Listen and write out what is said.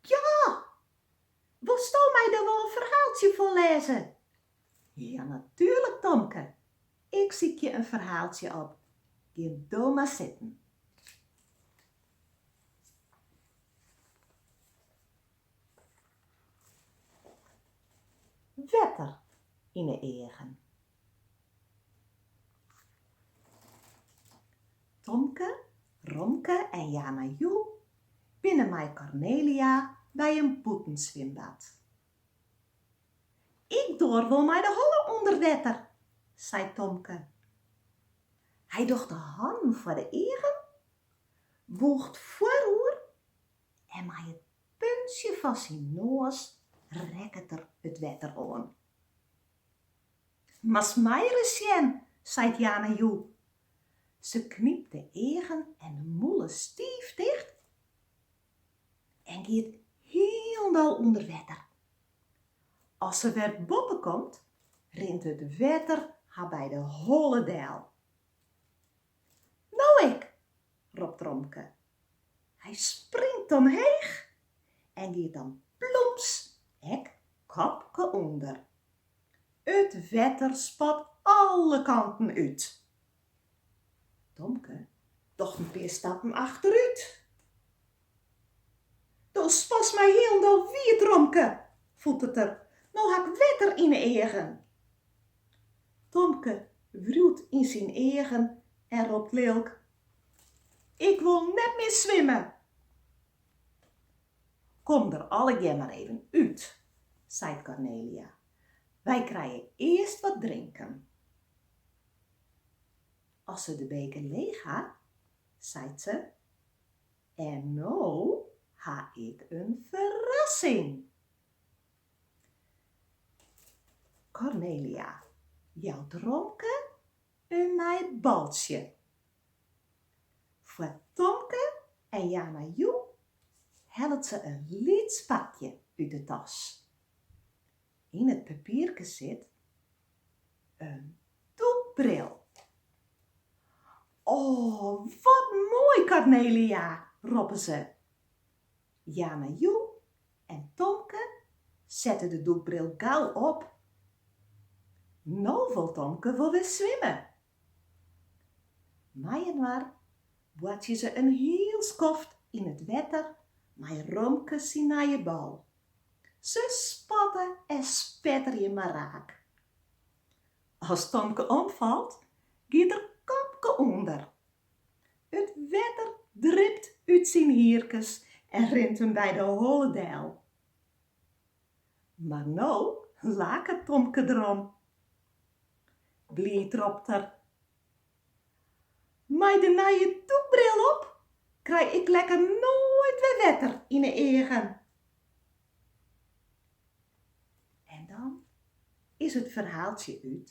Ja! Wolsto my dan wol in ferhaaltsje foarlêze? Ja natuerlik Tomke! Ik sykje in ferhaaltsje op. Gean do mar sitten. Wetter yn 'e eagen. Tomke, Romke en Yana Yu binne mei Kornelia by in bûtenswimbad. Ik doar wol mei de holle ûnder wetter, seit Tomke. Hy docht de hannen foar de eagen, bûcht foaroer en mei it puntsje fan syn noas rekket er it wetter oan. Moatst my ris sjen, seit Yana Yu. Se knypt de eagen en de mûle stiif ticht en giet hielendal ûnder wetter. As se wer boppe komt, rint it wetter har by de holle del. No ik! ropt Romke Hy springt omheech en giet dan plûms ek kopke ûnder. It wetter spat alle kanten út. Tomke docht in pear stappen achterút. Do spatst my hielendal wiet, Romke! fûtert er, no ha 'k wetter yn 'e eagen. Tomke wriuwt yn syn eagen en ropt lilk, Ik wol net mear swimme! Kom der allegear mar even út, seit Kornelia. Wy krije earst wat drinken. As se de beker leech ha, seit se, en no ha ik in ferrassing! Kornelia jout Romke In nij baltsje. Foar Tomke en Yana Yu hellet se in lyts pakje út de tas. Yn it papierke sit in dûkbril. O, wat moai Kornelia! roppe se. Yana Yu en Tomke sette de dûkbril gau op. No wol Tomke wol wer swimme. Mei-inoar boartsje se in hiel skoft yn it wetter mei Romke syn nije bal. Se spatte en spetterje mar raak. As Tomke omfalt, giet er kopke ûnder It wetter dript út syn hierkes en rint him by de holle del. Mar no laket Tomke derom. Bliid ropt er, Mei de nije dûkbril op krij ik lekker noait wer wetter yn 'e eagen. En dan is it ferhaaltsje út.